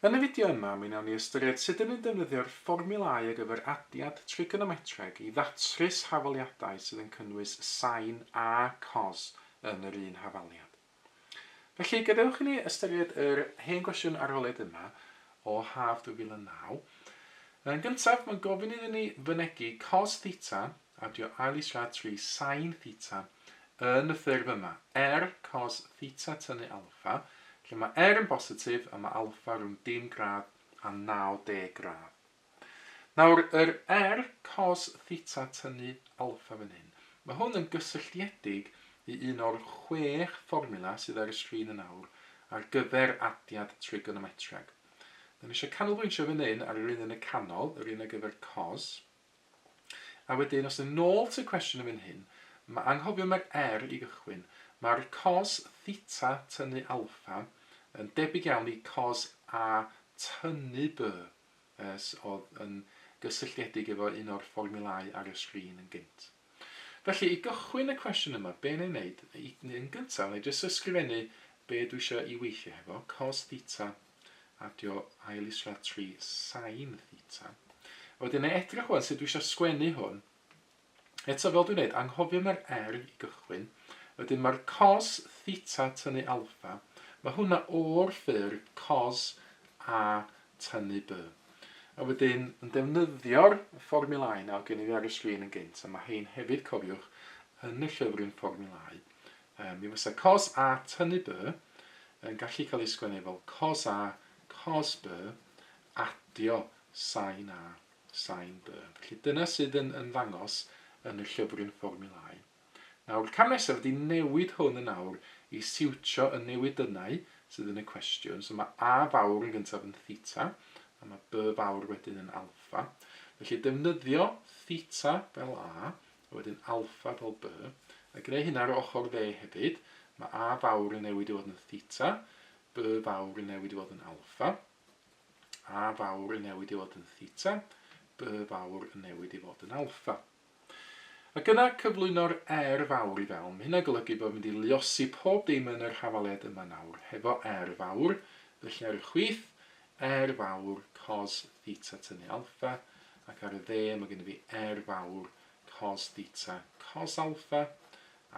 Yn y fideo yma, mi wnawn ni ystyried sut y ni'n defnyddio'r fformiwlâu ar gyfer adiad trigonometreg i ddatrys hafaliadau sydd yn cynnwys sain a cos yn yr un hafaliad. Felly, gadewch i ni ystyried yr hen gwestiwn arholiad yma o haf 2009. Yn gyntaf, mae'n gofyn iddyn ni fynegi cos theta Adio ail-islad trwy sain theta yn y ffurf yma, er cos theta tynnu alffa, lle mae er yn bositif a mae alffa rhwng dim gradd a 90 gradd. Nawr, yr er cos theta tynnu alffa fan hyn, mae hwn yn gysylltiedig i un o'r chwech fformula sydd ar y sgrin yn awr ar gyfer adiad trigonometreg. Da ni eisiau canolbwyntio fan hyn ar yr un yn y canol, yr un ar gyfer cos. A wedyn, os yn ôl at y cwestiwn yn fan hyn, mae anghofio mae'r er i gychwyn. Mae'r cos theta tynnu alffa yn debyg iawn i cos A tynnu B, as oedd yn gysylltiedig efo un o'r fformiwlau ar y sgrin yn gynt. Felly, i gychwyn y cwestiwn yma, be wna i wneud? Yn gyntaf, wna i jyst ysgrifennu be dwi eisiau i weithio hefo, cos theta adio ail islaw tri sin theta. A wedyn na edrych wan sut dwi eisiau sgwennu hwn. Eto fel dwi'n neud, anghofio mae'r r i gychwyn. Wedyn mae'r cos theta tynnu alfa. Mae hwnna o'r ffurf cos a tynnu b. A wedyn yn defnyddio'r fformulau nawr gen i fi ar y sgrin yn gynt, a mae hein hefyd cofiwch yn y llyfryn fformulau, Mi fysa cos a tynnu by yn gallu cael ei sgwennu fel cos a, cos by, adio sain a, sain by. Felly dyna sydd yn ymddangos yn y llyfryn fformiwlâu. Nawr, cam nesaf ydy newid hwn yn awr i siwtio y newidynnau sydd yn y cwestiwn. So mae a fawr yn gyntaf yn theta, a mae by fawr wedyn yn alfa. Felly defnyddio theta fel a, a wedyn alpha del B, a gwneu hynna ar yr ochr dde hefyd, mae A fawr yn newid i fod yn theta, B fawr yn newid i fod yn alpha, A fawr yn newid i fod yn theta, B fawr yn newid i fod yn alpha. Ac yna cyflwyno'r R fawr i fewn, mae hynna'n golygu bod mynd i luosi pob dim yn yr hafaliad yma nawr, hefo R fawr, felly ar y chwith, R fawr cos theta tynnu alffa, ac ar y dde mae gennyf fi R fawr cos theta cos alffa,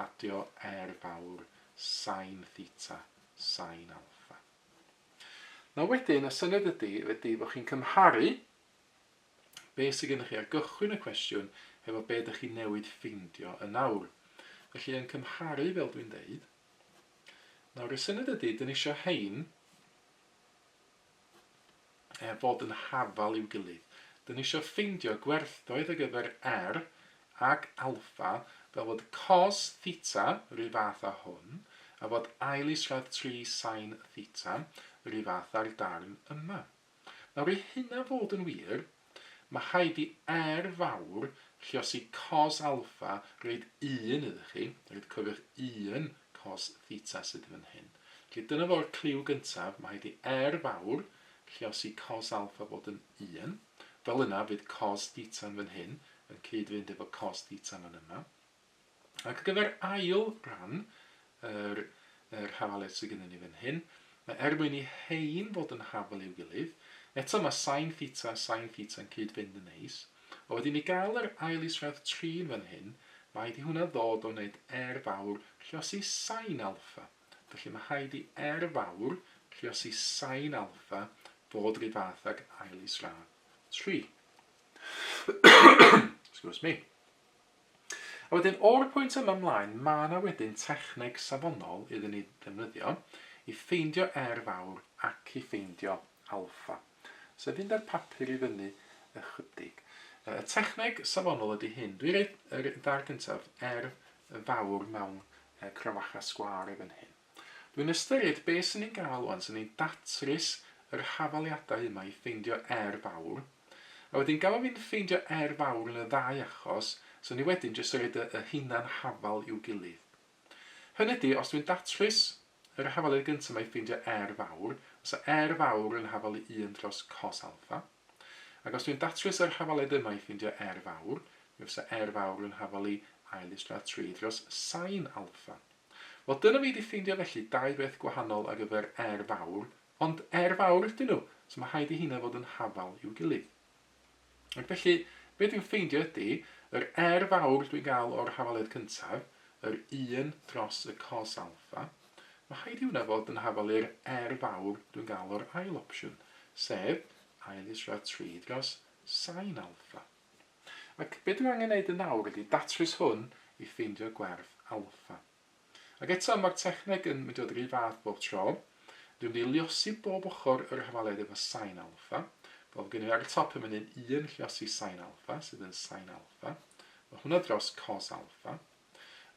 adio R fawr sin theta sin alffa. Nawr wedyn, y syniad ydy, ydy bod chi'n cymharu be sydd gennych chi ar gychwyn y cwestiwn hefo be ydych chi'n newid ffeindio yn nawr. Felly yn cymharu fel dwi'n deud. Nawr y syniad ydy, dyn ni eisiau hein er fod yn hafal i'w gilydd. Dyn ni isio ffeindio gwerthoedd ar gyfer R ac alpha fel fod cos theta ry fath â hwn a fod ail isradd tri sain theta ry fath â'r darn yma. Nawr i hynna fod yn wir, Mae rhaid i R fawr lluosi cos alffa roed un iddo chi, roed cyfr un cos theta sydd fan hyn. Felly dyna fo'r cliw gyntaf, mae rhaid i R fawr lluosi cos alffa fod yn un. Fel yna fydd cos theta'n fan hyn yn cyd-fynd efo cos theta fan yma. Ar gyfer ail ran yr yr hafaledd sydd gennyn ni fan hyn, mae er mwyn i rhein fod yn hafal i'w gilydd, eto mae sin theta a sin theta yn cyd-fynd yn neis, a wedyn i gael yr ail isradd trin fan hyn, rhaid i hwnna ddod o wneud R fawr rhiosi sin alffa. Felly mae rhaid i R fawr rhiosi sin alffa fod rhyw fath ag ail isradd tri. Excuse me. A wedyn o'r pwynt yma ymlaen ma' 'na wedyn techneg safonol iddyn ni ddefnyddio i ffeindio R fawr ac i ffeindio alffa. Sef fynd â'r papur i fyny ychydig. Yy y techneg safonol ydy hyn. Dwi roid yr bar gyntaf, R fawr mewn yy crafachau sgwâr i fan hyn. Dwi'n ystyried be' sy'n ei gael ŵan sy'n ei datrys yr hafaliadau yma i ffeindio er fawr, a wedyn gafo fi'n ffeindio er fawr yn y ddau achos, so ni wedyn jyst roid y y hunan hafal i'w gilydd. Hynny ydi, os dwi'n datrys yr hafaliad gynta 'ma i ffeindio er fawr, fysa er fawr yn hafal i un dros cos alffa, Ac os dwi'n datrys yr hafaliad yma i ffindio R fawr, mi fysa R fawr yn hafalu ail istra tri dros sain alffa. Wel, dyna fi 'di ffeindio felly dau beth gwahanol ar gyfer R fawr, ond R fawr ydyn nhw, so mae rhaid i heina fod yn hafal i'w gilydd. Ac felly, be dwi'n ffeindio ydy, yr R fawr dwi'n gael o'r hafaliad cyntaf, yr un dros y cos alffa, Mae rhaid i hwnna fod yn hafal i'r er fawr dwi'n gael o'r ail opsiwn, sef ail isra tri dros sain alffa. Ac be dwi angen neud yn awr ydi datrys hwn i ffeindio gwerth alffa. Ac eto, mae'r techneg yn mynd i fod yr un fath bob tro. Dwi'n mynd i liosi bob ochr yr hafaliad efo sain alffa, fel fod gennyf fi ar y top yn fan hyn un lliosi sain alffa, sydd yn sain alffa. Mae hwnna dros cos alffa.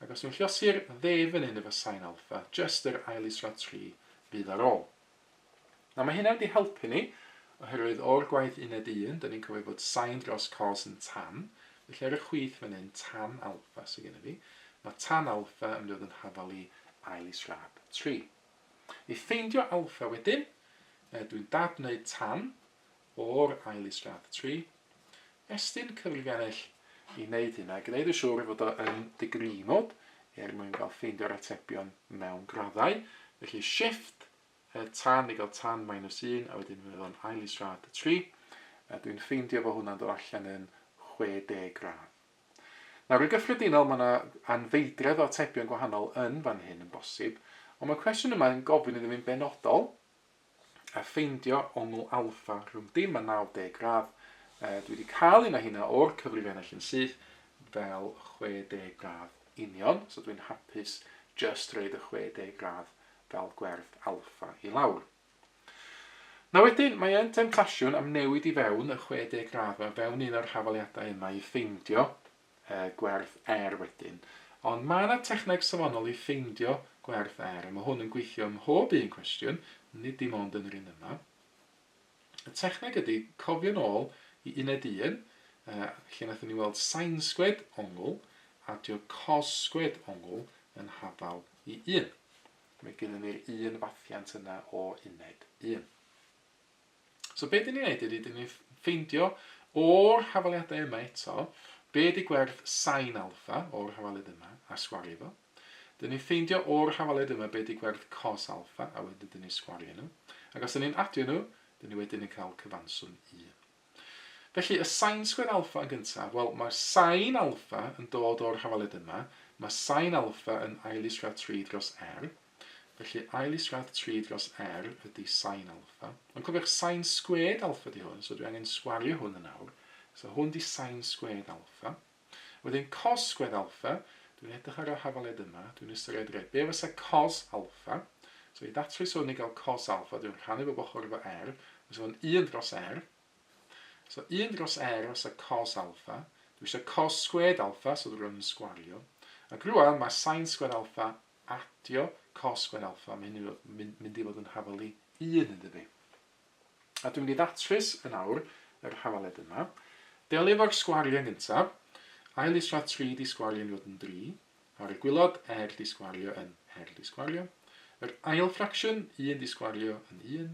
Ac os yw'n llosgi'r dde fan hyn efo sain alpha, jyst yr ail israd 3 fydd ar ôl. Nawr mae hynna wedi helpu ni, oherwydd o'r gwaith uned 1, da ni'n cofio bod sain dros cos yn tan, felly ar y chwith fan hyn, tan alpha sydd gennym ni, mae tan alpha yn mynd i fod yn hafal i ail israd 3. I ffeindio alpha wedyn, dwi'n dad wneud tan, o'r ail is-gradd. Tri, estyn cyfrifiannell i wneud hyn a gwneud yn siŵr ei fod o yn dy gri mod er mwyn cael ffeindio'r atebion mewn graddau. Felly shift er tan i gael tan minus un a wedyn fydd o'n ail is-gradd. Tri, a dwi'n ffeindio fo hwnna'n dod allan yn 60 gradd. Nawr, yn gyffredinol, mae yna anfeidredd o atebion gwahanol yn fan hyn yn bosib, ond mae'r cwestiwn yma yn gofyn iddo fi'n benodol, a ffeindio ongl alpha rhwng dim a 90 gradd. Uh, dwi wedi cael un o hynna o'r cyfrif ennill yn syth fel 60 gradd union, so dwi'n hapus just reid y 60 gradd fel gwerth alfa i lawr. Na wedyn, mae e'n temtasiwn am newid i fewn y 60 gradd mewn fewn un o'r hafaliadau yma i ffeindio gwerth er wedyn. Ond mae yna techneg safonol i ffeindio gwerth er, a mae hwn yn gweithio ym mhob un cwestiwn, nid dim ond yn yr un yma. Y techneg ydy cofio'n ôl i uned 1, lle naethon ni weld sainsgwed ongl, adio cossgwed ongl yn hafal i 1. Mae gennym ni'r un fathiant yna o uned 1. So be dyn ni'n neud ydy, dyn ni'n ffeindio o'r hafaliadau yma eto, be di gwerth sain alfa o'r hafaliad yma, a sgwario fo. Dyn ni'n ffeindio o'r hafaliad yma be di gwerth cos alfa, a wedyn dyn ni'n sgwario nhw. Ac os dyn ni'n adio nhw, dyn ni wedyn yn cael cyfanswm 1. Felly, y sain sgwyd alfa yn gyntaf, wel, mae'r sain alfa yn dod o'r hafaliad yma, mae sain alfa yn ail-is-gradd 3 dros r, Felly ail isradd tri dros R ydy sain alffa. Ond cofiwch sain sgwed alffa di hwn, so dwi angen sgwario hwn yn awr. So hwn di sain sgwed alffa. Wedyn cos sgwed alffa, dwi'n edrych ar y hafaled yma, dwi'n ystyried reit, be fysa cos alffa? So i ddatrys hwn i gael cos alffa, dwi'n rhannu bob ochr efo R, fysa fo'n 1 dros R. So 1 dros R fysa cos alffa. Dwi eisiau cos sgwed alffa, so dwi'n rhan yn sgwario. Ac rwan mae sain sgwed alffa Adio cos gwen alffa, mae hyn yn mynd i fod yn hafal i un yn dydi? A dwi'n mynd i ddatrys yn awr yr hafaled yma. Delio efo'r sgwariau yn gyntaf. Ail isradd 3 'di sgwario yn fod yn 3. Ar y gwylod, er 'di sgwario yn er 'di sgwario. Yr ail ffracsiwn, 1 'di sgwario yn 1,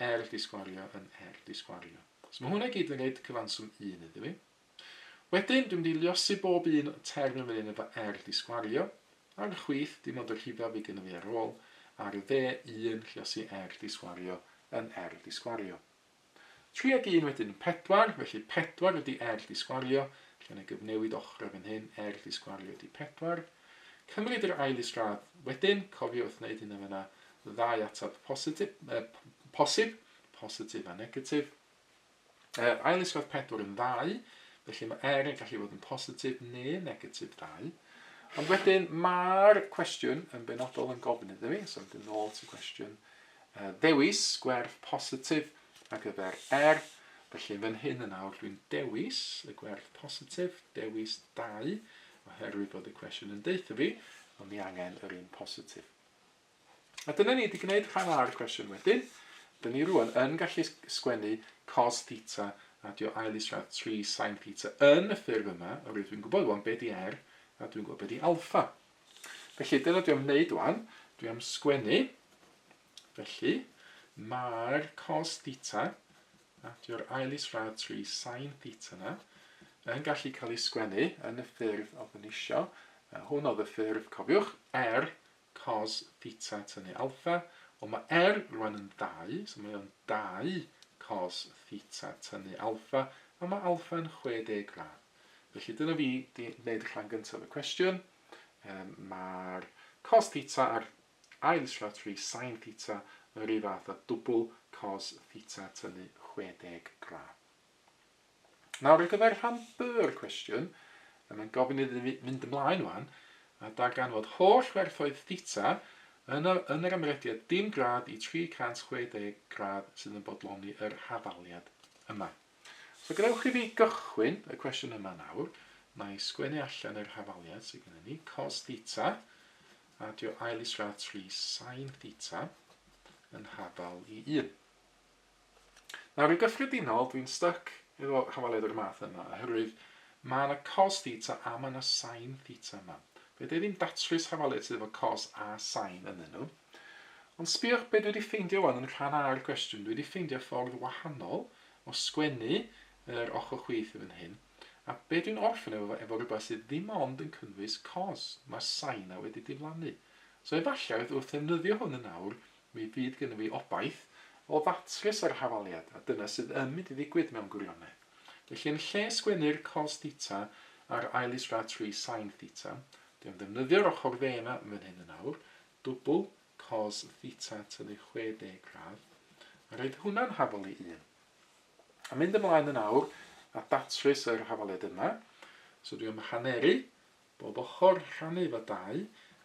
er 'di sgwario yn er 'di sgwario. So mae hwnna i gyd yn gwneud cyfanswm 1 iddi fi. Wedyn, dwi'n mynd i liosi bob un o'r term yn fan hyn efo R di sgwario, ar y chwith, dim ond y rhifau fydd gynna fi ar ôl, ar y dde, 1, lliosi R di sgwario yn R di sgwario. 3 ag 1 wedyn yn 4, felly 4 ydi R di sgwario, lle na gyfnewid ochrau fan hyn, R di sgwario ydi 4. Cymryd yr ail isradd wedyn, cofio wrth wneud hyn yn fyna, ddau atab positif, eh, posib, positif a negatif. Mae'r ail iswad 4 yn 2, felly mae R yn gallu bod yn positif neu negatif 2. Ond wedyn mae'r cwestiwn yn benodol yn gofyn iddo fi, so wedyn nôl ti cwestiwn, uh, dewis gwerth positif ar gyfer R, felly fan hyn yn awr dwi'n dewis y gwerth positif, dewis 2, oherwydd bod y cwestiwn yn deutha fi, ond ni angen yr un positif. A dyna ni, 'di gwneud rhan A o'r cwestiwn wedyn. Dyn ni rŵan yn gallu sgwennu cos theta a dio ail isradd tri sin theta yn y ffurf yma, oherwydd dwi'n gwybod rŵan be di R a dwi'n gwybod be di alpha. Felly dyna dwi am wneud rŵan, dwi am sgwennu, felly mae'r cos theta a dio'r ail isradd tri sin theta yna yn gallu cael ei sgwennu yn y ffurf oedd yn eisiau. Hwn oedd y ffurf, cofiwch, R cos theta tynnu alpha, wel mae R rwan yn dau, so mae o'n dau cos theta tynnu alpha, a mae alpha yn 60 gradd. Felly dyna fi di wneud y rhan gyntaf y cwestiwn. Um, mae'r cos theta a'r ail slatri sain theta yr un fath a dwbl cos theta tynnu 60 gradd. Nawr ar gyfer rhan B-r cwestiwn, mae'n gofyn iddyn ni fynd ymlaen wan a darganfod holl werthoedd theta yn y, yn yr ymrediad dim gradd i 360 gradd sydd yn bodloni yr hafaliad yma. So gadewch i fi gychwyn y cwestiwn yma nawr. Na i sgwennu allan yr hafaliad sydd gyda ni, cos theta, adio ail isradd 3 sin theta yn hafal i 1. Nawr, yn gyffredinol, dwi'n styc efo hawaliad o'r math yma, oherwydd mae yna cos theta a mae yna sain theta yma. Fe dwi ddim datrys hawaliad sydd efo cos a sain ynddyn nhw. Ond sbiwch be dwi wedi ffeindio wan yn rhan A'r cwestiwn. Dwi wedi ffeindio ffordd wahanol o sgwennu yr ochr chwith yn hyn. A be dwi'n orffen efo, efo rhywbeth sydd ddim ond yn cynnwys cos. Mae'r sain a wedi diflannu. So efallai wrth ddefnyddio hwn yn awr, Mi fydd gennym ni obaith o ddatrys yr hafaliad, a dyna sydd yn mynd i ddigwydd mewn gwirionedd. Felly, yn lle sgwennu'r cos theta ar ail israd tri sain theta, dwi am ddefnyddio'r ochr dde 'na yn fan hyn yn awr, dwbl cos theta tynnu 60 gradd, a roid hwnna'n hafal i un. A mynd ymlaen yn awr a datrys yr hafaliad yma. So dwi am hanneru Bob ochr rhannu efo dau,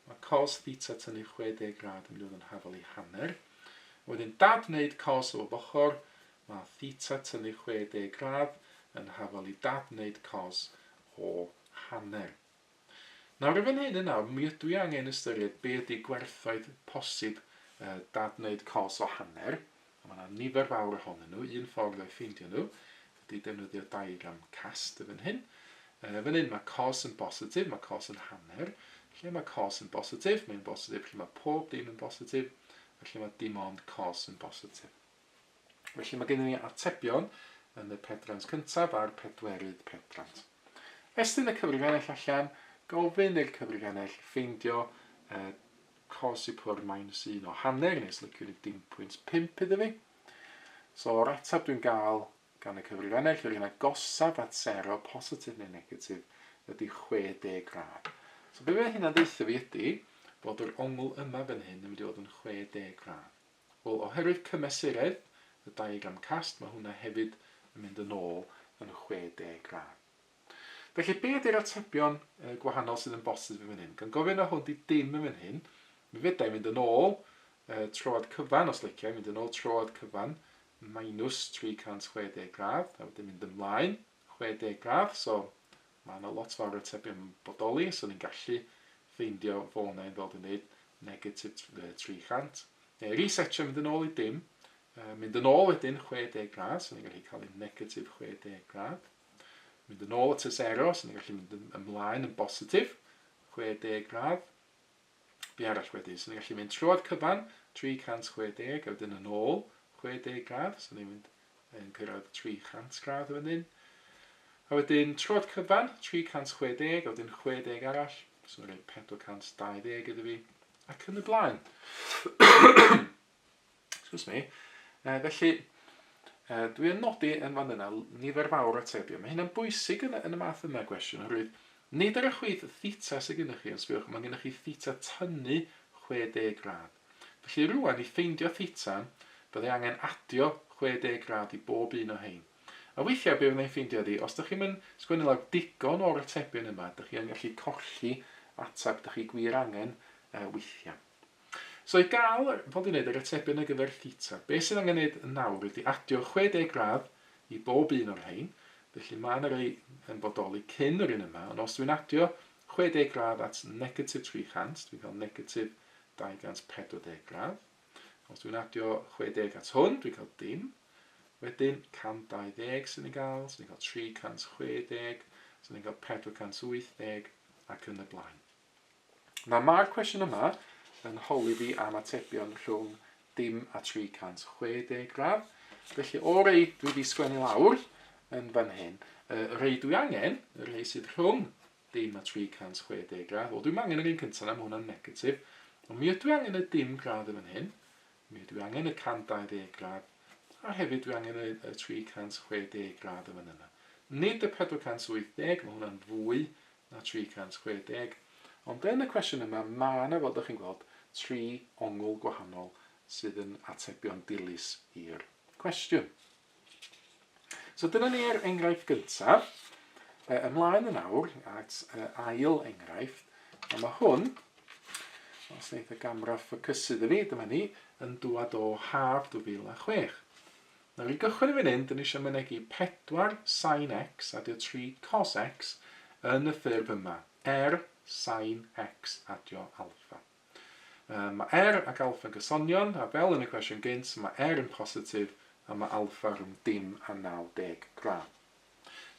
mae cos theta tynnu 60 grad yn mynd i fod yn hafal i hanner. A wedyn dad wneud cos o bob ochr, mae theta tynnu 60 grad yn hafal i dad wneud cos o hanner. Nawr efo'n hyn yn awr, mi ydw i angen ystyried be ydy gwerthoedd posib dad wneud cos o hanner, A mae 'na nifer fawr ohonyn nhw. Un ffordd o'i ffeindio nhw ydy defnyddio diagram cast y fan hyn. Uh, fan hyn mae cos yn bositif, mae cos yn hanner. Lle mae cos yn bositif? Mae'n bositif lle mae pob dim yn bositif, a lle mae dim ond cos yn bositif. Felly mae gennym ni atebion yn y pedrant cyntaf a'r pedwerydd pedrant. Estyn y cyfrifiannell allan, gofyn i'r cyfrifiannell ffeindio uh, cos i pwr minus un o hanner nes liciwd yn dim pwynt pump iddo fi. So o'r ateb dwi'n gael gan y cyfrifennell, yr un agosaf at sero, positif neu negatif, ydy 60 gradd. So be mae hynna'n ddeitha fi ydy bod yr ongl yma fan hyn yn mynd i fod yn 60 gradd. Wel, oherwydd cymesuredd y diagram cast, mae hwnna hefyd yn mynd yn ôl yn 60 gradd. Felly, be ydy'r atebion gwahanol sydd yn bosib yn fan hyn? Gan gofyn o hwn di dim yn fan hyn, mi fydda i fynd yn ôl troad cyfan, os licio i fynd yn ôl troad cyfan, minus 360 gradd, a wedyn mynd ymlaen 60 gradd, so mae yna lot fawr o atebion bodoli, so ni'n gallu ffeindio fo yna yn ddod yn dweud negatif 300, neu resetio mynd yn ôl i dim, mynd yn ôl wedyn 60 gradd, so ni'n gallu cael ei negatif 60 gradd, Mynd yn ôl at y sero, so ni'n gallu mynd ymlaen yn bositif, 60 gradd. Be arall wedyn? So ni'n gallu mynd trwy'r cyfan, 360, a wedyn yn ôl, 60 gradd, so ni'n mynd yn cyrraedd 300 gradd o fan A wedyn trod cyfan, 360, a wedyn 60 arall, so mae'n rhaid 420 iddo fi, ac yn y blaen. Excuse me. Uh, felly, uh, dwi yn nodi yn fan yna nifer fawr atebion. Mae hynna'n bwysig yn, yn y math yma o gwestiwn, oherwydd nid ar y chwith theta sydd gennych chi, ond sbiwch, mae gennych chi theta tynnu 60 grad. Felly rwan, i ffeindio theta, byddai angen adio 60 grad i bob un o hein. A weithiau be fyddai'n ffeindio ydi, os ydych chi'n mynd sgwennu lawr digon o'r atebion yma, ydych chi'n gallu colli ateb ydych chi gwir angen uh, weithiau. So i gael fod i wneud yr atebion ar gyfer Theta, be sydd angen wneud nawr ydy adio 60 gradd i bob un o'r rhain, felly mae yna rei yn bodoli cyn yr un yma, ond os dwi'n adio 60 gradd at negatif 300, dwi'n cael negatif 240 gradd. Os dwi'n adio 60 at hwn, dwi'n cael dim. Wedyn 120 sy'n ei gael, sy'n ei gael 360, sy'n ei gael 480 ac yn y blaen. Mae mae'r cwestiwn yma yn holi fi am atebion rhwng dim a 360 gradd. Felly o rei dwi wedi sgwennu lawr yn fan hyn, y rei dwi angen, y rei sydd rhwng dim a 360 gradd. Wel, dwi'n angen yr un cyntaf na, mae hwnna'n negatif. Ond mi ydw i angen y dim gradd yn fan hyn. Mi ydw i angen y 120 gradd. A hefyd dwi angen y, y 360 gradd yn fan yna. Nid y 480, mae hwnna'n fwy na 360. Ond yn y cwestiwn yma, mae yna, fel dych chi'n gweld, tri ongl gwahanol sydd yn atebion dilys i'r cwestiwn. So dyna ni'r enghraifft gyntaf. E, ymlaen yn awr at e, ail enghraifft. A mae hwn, os wneud y gamra ffocysu dda ni, dyma ni, yn dŵad o haf 2006. Nawn ni gychwyn yn fan hyn, 'dyn ni isio mynegi pedwar sin x adio tri cos x yn y ffurf yma, er sin x adio alffa. Yy, mae er ac alffa'n gysonion, a fel yn y cwestiwn gynt, mae er yn positif a mae alffa rhwng dim a 90 gradd.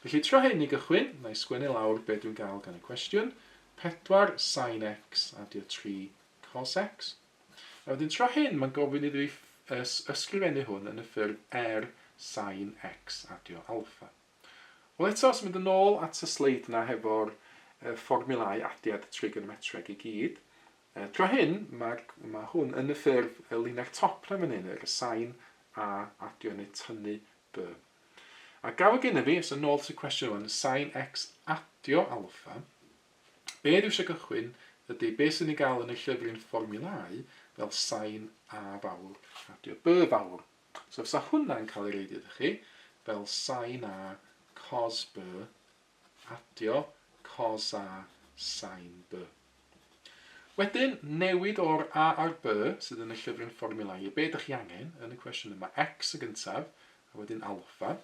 Felly trio hyn i gychwyn, na i sgwennu lawr be dwi'n gael gan y cwestiwn, pedwar sin x adio tri cos x, A wedyn tro hyn mae'n gofyn iddo fi ysgrifennu hwn yn y ffurf er sain x adio alpha. Wel eto, os mynd yn ôl at y sleid yna hefo'r fformiwlau adiad trigonometreg i gyd, tro hyn mae, mae hwn yn y ffurf y linell top na fan hyn, yr y sain a adio neu tynnu b. A gael gennym fi, os yn ôl at y cwestiwn hwn, sain x adio alpha, Be dwi eisiau gychwyn ydy be sy'n ei gael yn y llyfryn fformiwlâu fel sain A fawr a dio B fawr. So fysa hwnna'n cael ei roid iddo chi fel sain A cos B adio cos A sain B. Wedyn, newid o'r A a'r B sydd yn y llyfryn fformiwlâu i be dych chi angen yn y cwestiwn yma, X y gyntaf, a wedyn alpha.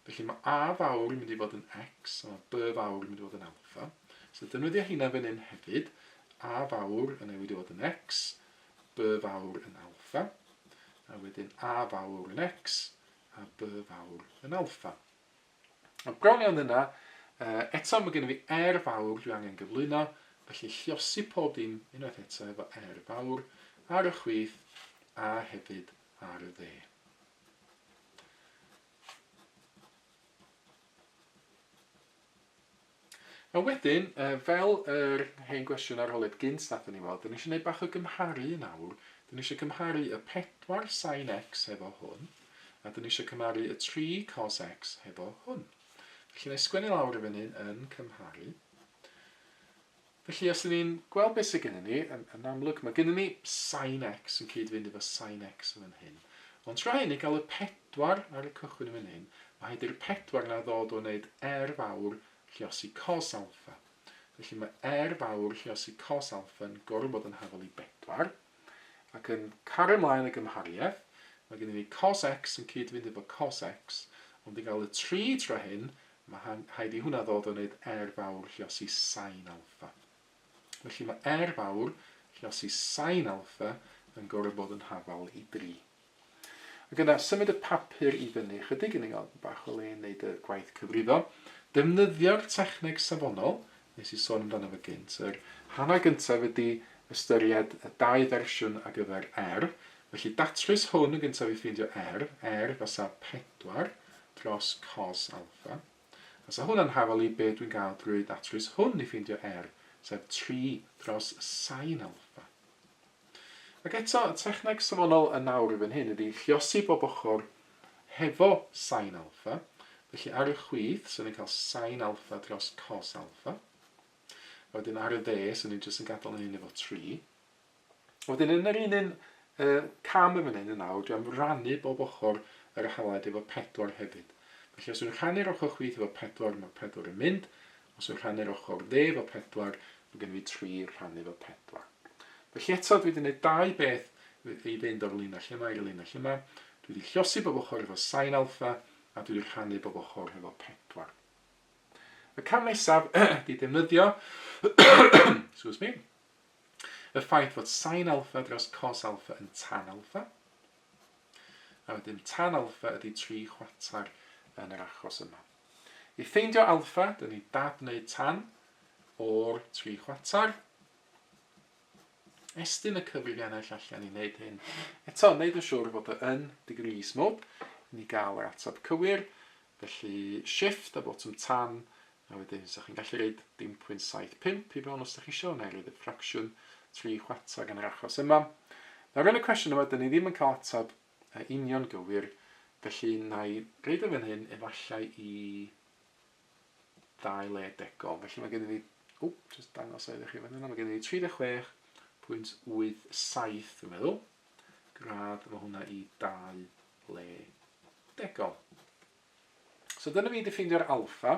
Felly mae a fawr yn mynd i fod yn x, a mae b fawr yn mynd i fod yn alpha. So defnyddio hynna fan hyn hefyd, a fawr yn newid i fod yn x, b fawr yn alpha, a wedyn a fawr yn x, a b fawr yn alpha. Ond bron iawn yna, eto mae gennym fi r fawr dwi angen gyflwyno, felly lliosi pob dim unwaith eto efo r fawr ar y chwith a hefyd ar y dde. A wedyn, uh, fel yr hen gwestiwn arholiad gynt nathon ni fod, dyn ni eisiau gwneud bach o gymharu yn awr. Dyn ni eisiau cymharu y 4 sin x hefo hwn, a dyn ni eisiau cymharu y 3 cos x hefo hwn. Felly, na i sgwennu lawr y fan hyn yn cymharu. Felly os 'dyn ni'n gweld beth sy gennyn ni, yn yn amlwg ma' gennyn ni sin x yn cyd-fynd efo sin x yn fan hyn. Ond tra i ni gael y pedwar ar y cychwyn yn fan hyn, ma' rhaid i'r pedwar 'na ddod o wneud r fawr lluosi cos alffa. Felly ma' r fawr lluosi cos alffa yn gorfod bod yn hafal i bedwar. Ac yn cario mlaen y gymhariaeth, ma' gennyn ni cos x yn cyd-fynd efo cos x, ond i gael y tri tra hyn, Mae rhaid i hwnna ddod o wneud R fawr llosi sain alffa. Felly mae R fawr llosi sain alffa yn gorfod bod yn hafal i 3. Ac yna, symud y papur i fyny ychydig, yn ei gael bach o le yn wneud y gwaith cyfrifo. Defnyddio'r techneg safonol, nes i sôn amdano fe gynt. Yr hanner gyntaf ydi ystyried y dau fersiwn ar gyfer R, felly datrys hwn yn gyntaf i ffeindio R, R fasa 4 dros cos alfa. Fasa hwnna'n hafal i be dwi'n gael drwy ddatrys hwn i ffeindio R, sef 3 dros sain alfa. Ac eto, y techneg safonol yn awr i fan hyn ydy lluosi bob ochr hefo sain alffa, felly ar y chwith, so ni'n cael sain alffa dros cos alffa. A wedyn ar y dde, so ni'n jyst yn gadael yn hyn efo 3. A wedyn yn yr un un uh, cam yn fan hyn yn awr, dwi am rannu bob ochr yr halaid efo 4 hefyd. Felly os yw'n rhannu'r ochr chwith efo 4, mae 4 yn mynd, Os yw'n rhannu'r ochr dde efo pedwar, mae gen i fi tri rhannu efo pedwar. Felly eto, dwi wedi gwneud dau beth i fynd o'r linell yma i'r linell yma. Dwi wedi llosi bob ochr efo sain alfa, a dwi wedi rhannu bob ochr efo pedwar. Y cam nesaf ydy defnyddio excuse me, y ffaith fod sain alfa dros cos alfa yn tan alfa, a wedyn tan alfa ydy tri chwarter yn yr achos yma. I ffeindio alffa, dyn ni dab neu tan o'r tri chwarter. Estyn y cyfrifiannell allan i wneud hyn. Eto, wneud yn siŵr fod y yn degrees mode i ni gael yr ateb cywir. Felly, shift a botwm tan, a wedyn ysach chi'n gallu reid 0.75 i fewn os ydych chi eisiau, neu reid y ffracsiwn tri chwarter yn yr achos yma. Nawr yn y cwestiwn yma, dyn ni ddim yn cael ateb Yn union gywir, felly na i roid o fan hyn efallai i ddau le degol. Felly mae gennym ni, o, jyst dangos o iddo chi fan yna, mae gennym ni 36.87 dwi'n meddwl, gradd, mae hwnna i dau le degol. So dyna fi 'di ffeindio'r alpha,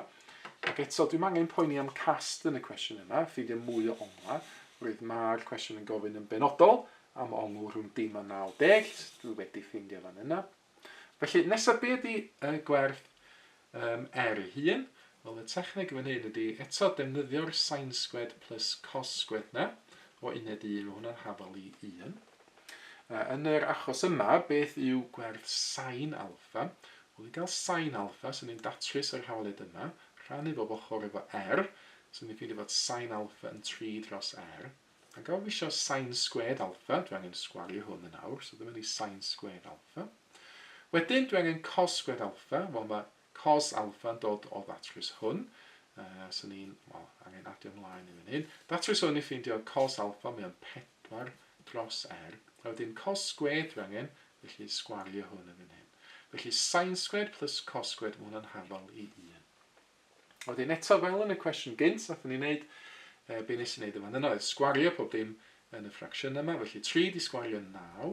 ac eto dwi'm angen poeni am cast yn y cwestiwn yma, ffeindio mwy o onglau, roedd ma'r cwestiwn yn gofyn yn benodol am ongl rhwng dim a 90, dwi wedi ffeindio fan yna. Felly nesaf be ydi y gwerth um, er ei hun? Wel y techneg fan hyn ydi eto defnyddio'r sain sgwed plus cos sgwed na, o uned 1 mae hwnna'n hafal i 1. A yn yr achos yma, beth yw gwerth sain alffa? Wel, i gael sain alffa, sy'n ni'n datrys yr hawaliad yma, rhannu bob ochr efo r, sy'n ni'n ffeindio fod sain alffa yn 3 dros r. A gawr fi eisiau sain sgwed alffa, dwi angen sgwario hwn yn awr, so dyma ni sain sgwed alffa. Wedyn, dwi angen cos sgwed alffa, wel mae Cos alpha'n dod o ddatrys hwn. Yy, so ni'n, wel, angen adio ymlaen i fan hyn. Datrys hwn i ffeindio cos alpha, mae o'n 4 dros r. A wedyn cos sgwêr dwi angen, felly sgwario hwn yn fan hyn. Felly sain sgwêr plus cos sgwêr, mae hwnna'n hafal i 1. A wedyn eto, fel yn y cwestiwn gynt, nath ni wneud, e, be nes i wneud yn fan yna oedd sgwario pob dim yn y ffracsiwn yma, felly 3 di sgwario 9,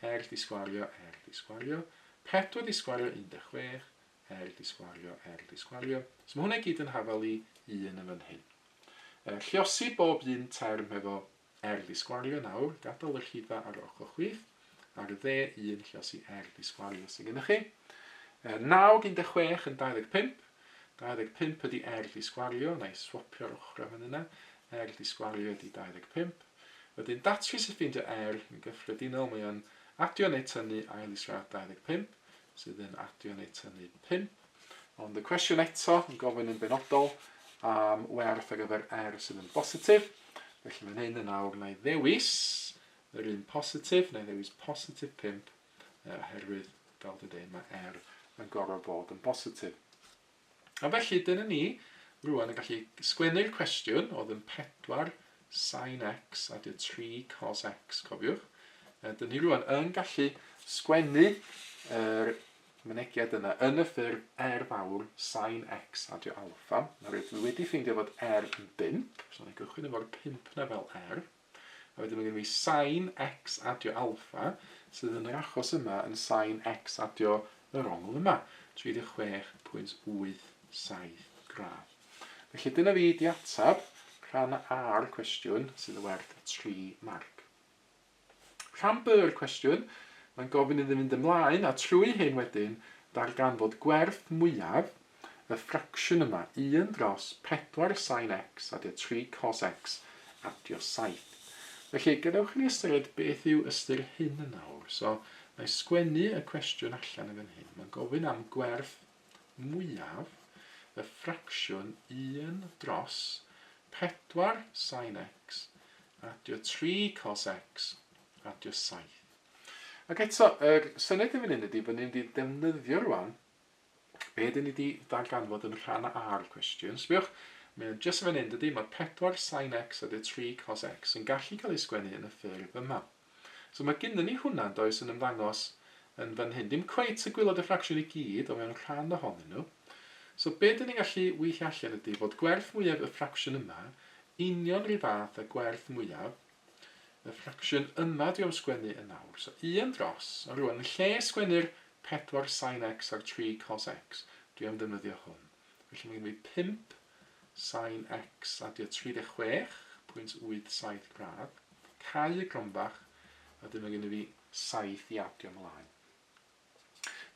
r di sgwario, r di sgwario, Pedwar di sgwario 16, er di sgwario, er di sgwario. So mae hwnna i gyd yn hafal i 1 yn fan hyn. Er, lliosi bob un term hefo er di sgwario nawr, gadael y rhifa ar ochr chwith, ar y dde 1 lliosi er di sgwario sydd gennych chi. Er, nawr 16 yn 25, 25 ydy erth i sgwario, na i swopio'r ochrau fan yna, erth i sgwario ydy 25. Wedyn datrys i ffeindio er, yn gyffredinol mae o'n adio neu tynnu ail israd 25, sydd yn adio neu tynnu 5. Ond y cwestiwn eto yn gofyn yn benodol am werth ar gyfer er sydd yn bositif, felly fan hyn yn awr na i ddewis yr un positif, na i ddewis positif 5, oherwydd, fel dwi dweud, mae er yn gorfod bod yn bositif. A felly, dyna ni rwan yn gallu sgwennu'r cwestiwn oedd yn 4 sin x a dy 3 cos x, cofiwch. A dyna ni rwan yn gallu sgwennu yr mynegiad yna yn y ffurf er fawr sin x a dy alfa. Nawr, dwi wedi ffeindio fod er yn 5, so ni'n gychwyn efo'r 5 na fel er. A wedyn mae gen i fi sin x adio alpha, sydd yn yr achos yma yn sin x adio yr ongl yma, 36.87 gradd. Felly dyna fi di atab rhan A'r cwestiwn sydd yn werth 3 marc. Rhan B'r cwestiwn, mae'n gofyn iddyn fynd ymlaen a trwy hyn wedyn darganfod gwerth mwyaf Y ffracsiwn yma, un dros pedwar sin x adio tri cos x adio saith. Felly, gadewch i ni ystyried beth yw ystyr hyn yn awr. So, na i sgwennu y cwestiwn allan yn fan hyn. Mae'n gofyn am gwerth mwyaf y ffracsiwn un dros pedwar sin x adio tri cos x adio saith. Ac eto, yr syniad yn fan hyn ydy bod ni'n mynd i ddefnyddio rwan Be dyn ni di darganfod yn rhan A ar y cwestiwn? Sbiwch, mae o'n jyst yn fan hyn, dydy? Mae 4 sin x a dy 3 cos x yn gallu cael ei sgwennu yn y ffurf yma. So mae gynnu ni hwnna, does, yn ymddangos yn fan hyn. Dim cweit y gwylod y ffracsiwn i gyd, ond mewn rhan ohonyn nhw. So be dyn ni'n gallu weithio allan ydy fod gwerth mwyaf y ffracsiwn yma union rhyw fath a gwerth mwyaf Y ffracsiwn yma dwi am sgwennu yn awr. So i am dros, a rwan, yn lle sgwennu'r pedwar sin x a'r tri cos x, dwi am ddefnyddio hwn. Felly mae gen i fi pump sin x a dio 36.87 gradd, cau y gromfach, a wedyn mae gen i fi saith i adio mlaen.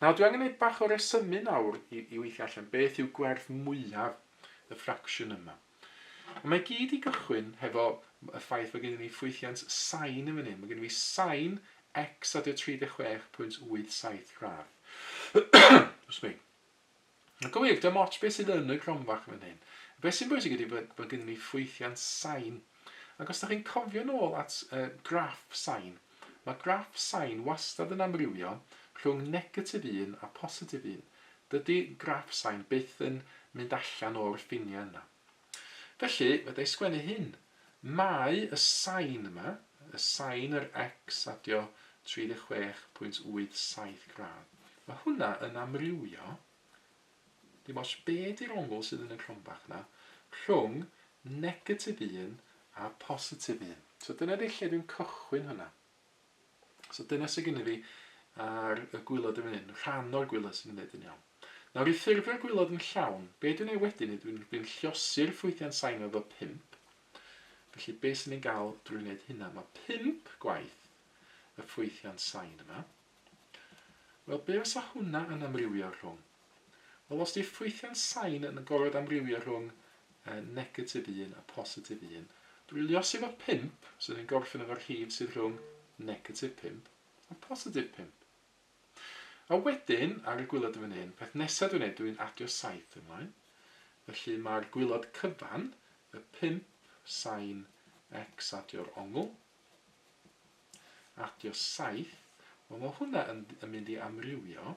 Nawr, dwi angen neud bach o resymu nawr i, i weithio allan beth yw gwerth mwyaf y ffracsiwn yma. A mae gyd i gychwyn hefo y ffaith fod gennym ni ffwythiant sain yn fan hyn. Mae gennym ni sain x a dy 36.87 gradd. Excuse me. Ac yn wir, dim ots beth sydd yn y cromfac fan hyn. Beth sy'n bwysig ydy bod, bod gennym ni ffwythiant sain. Ac os da chi'n cofio nôl at uh, graff sain, mae graff sain wastad yn amrywio rhwng negatif 1 a positif 1. Dydy graff sain byth yn mynd allan o'r ffiniau yna. Felly, fedrai sgwennu hyn. Mae y sain yma, y sain yr X a dio 36.87 gradd, mae hwnna yn amrywio, dim ots be di'r ongl sydd yn y cronbach na, rhwng negatif 1 a positif 1. So dyna di lle dwi'n cychwyn hwnna. So dyna sydd gennyf fi ar y gwylod yn fan hyn, rhan o'r gwylod sy'n ymwneud yn iawn. Nawr i ffurfio'r gwylod yn llawn, be dwi'n ei wedyn yw dwi'n dwi'n llosi'r ffwythiau'n sain efo 5. Felly be sy'n ni'n gael drwy wneud hynna? Mae 5 gwaith y ffwythiau'n sain yma. Wel, be fysa hwnna yn amrywio rhwng? Wel, os 'di ffwythiant sain yn gorfod amrywio rhwng negatif un a phositif un, dwylio sydd efo pump, so ni'n gorffen efo rhif sydd rhwng negatif pump a positif pump. A wedyn, ar y gwylod yn fan hyn, peth nesaf dwi'n ei, dwi'n adio saith ymlaen. Felly mae'r gwylod cyfan, y pump sain x adio'r ongl, adio saith, wel mae hwnna yn, yn mynd i amrywio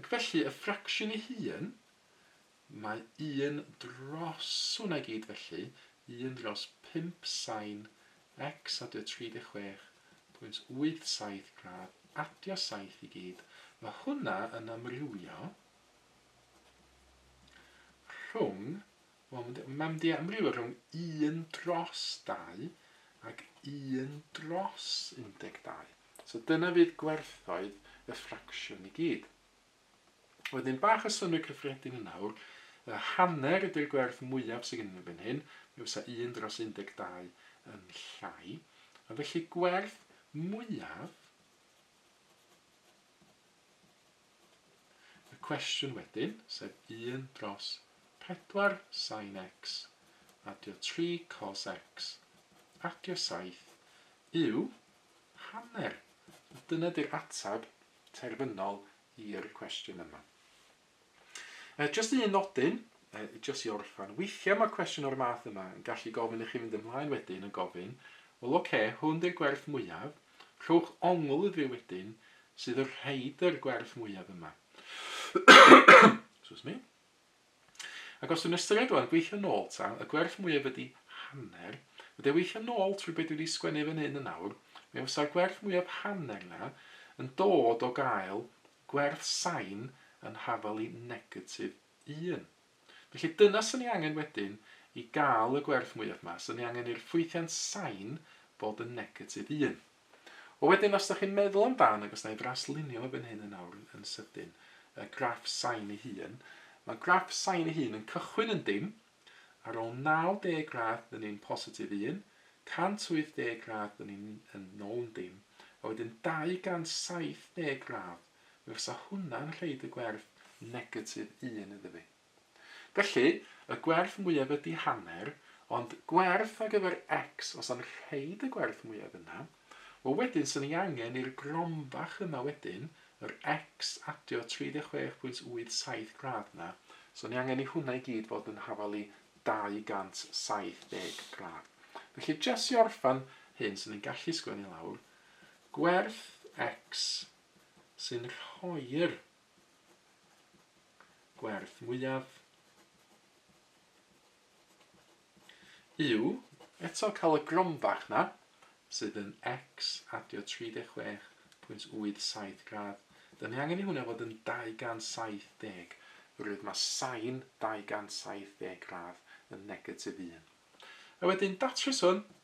Ac felly, y ffracsiwn ei hun, mae un dros, hwnna i gyd felly, un dros pump sain x adio 36.87 gradd adio saith i gyd, mae hwnna yn amrywio rhwng Wel, mae mae mynd i amrywio rhwng 1 dros 2 ac 1 dros 12. So dyna fydd gwerthoedd y ffracsiwn i gyd. Wedyn bach o synnwyr cyffredin yn awr, y hanner ydy'r gwerth mwyaf sydd gennym ni fan hyn, mi fysa 1 dros 12 yn llai, a felly gwerth mwyaf Y cwestiwn wedyn, sef un dros pedwar sin x, adio tri cos x, adio saith, yw hanner, a dyna 'di'r ateb terfynol i'r cwestiwn yma. E, jyst un nodyn, e, jyst i orffan, weithiau mae cwestiwn o'r math yma yn gallu gofyn i chi fynd ymlaen wedyn yn gofyn, wel oce, okay, hwn di'r gwerth mwyaf, Rhowch ongl iddi wedyn sydd y rhaid yr gwerth mwyaf yma. Excuse me. Ac os dwi'n ystyried rwan, gweithio nôl ta, y gwerth mwyaf ydi hanner, wedi weithio nôl trwy be dwi wedi sgwennu fan hyn yn awr, mi fysa'r gwerth mwyaf hanner na yn dod o gael gwerth sain yn hafalu negatif 1. Felly dyna swn i angen wedyn i gael y gwerth mwyaf ma, swn i angen i'r ffwythiant sain fod yn negatif un. Wel wedyn os da chi'n meddwl am dan, ac os na i ddraslunio fo fan hyn yn awr yn sydyn, y graff sain ei hun, mae graff sain ei hun yn cychwyn yn dim, ar ôl 90 gradd dyn ni'n positif un, 180 gradd dyn ni'n yn nôl yn dim, a wedyn 270 gradd Mi fysa hwnna'n rhoi y gwerth negatif un iddo fi. Felly, y gwerth mwyaf ydy hanner, ond gwerth ar gyfer x os am rhoi y gwerth mwyaf yna, wel wedyn 'swn i angen i'r gronfach yma wedyn, yr x adio 36.87 gradd 'na, 'swn i angen i hwnna i gyd fod yn hafalu 270 gradd. Felly, jes i orffan hyn, 'swn i'n gallu sgwennu lawr gwerth x sy'n rhoi'r gwerth mwyaf yw eto cael y gromfach na sydd yn x adio 36.87 gradd. Dyn ni angen i hwnna fod yn 270. Rwydd mae sain 270 gradd yn negatif 1. A wedyn datrys hwn